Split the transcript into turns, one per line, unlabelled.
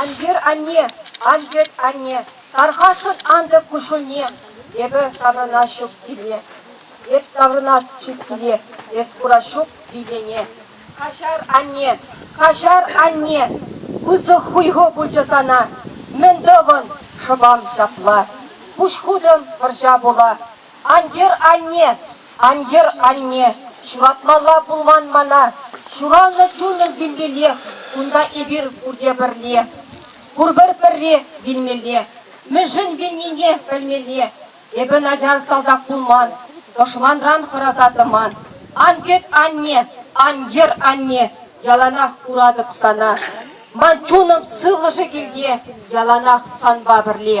Ан йӗр, анне, ан йӗт, анне, тархасшӑн антӑк куҫҫульне. Эпӗ таврӑнас ҫук киле, эп таврӑнас ҫук киле, эс курас ҫук витене. Каҫар, анне, каҫар, анне, пысӑк хуйхӑ пулчӗ сана. Мӗн тӑвӑн, шӑпам ҫапла, пуҫ хутӑм вӑрҫа пула. Ан йӗр, анне! Ан йӗр, анне! Ҫуратмалла пулман мана. Ҫуралнӑ чунӑм вилмеллех, кунта эпир пурте пӗрле. Пурпӗр пӗрре вилмелле. Мӗншӗн вилнине пӗлмелле. Эпӗ начар салтак пулман, тӑшманран хӑраса тӑман. Ан кӗт, анне! Ан йӗр, анне! Яланах куратӑп сана. Ман чунӑм сывлӑшӗ килте яланах санпа пӗрле.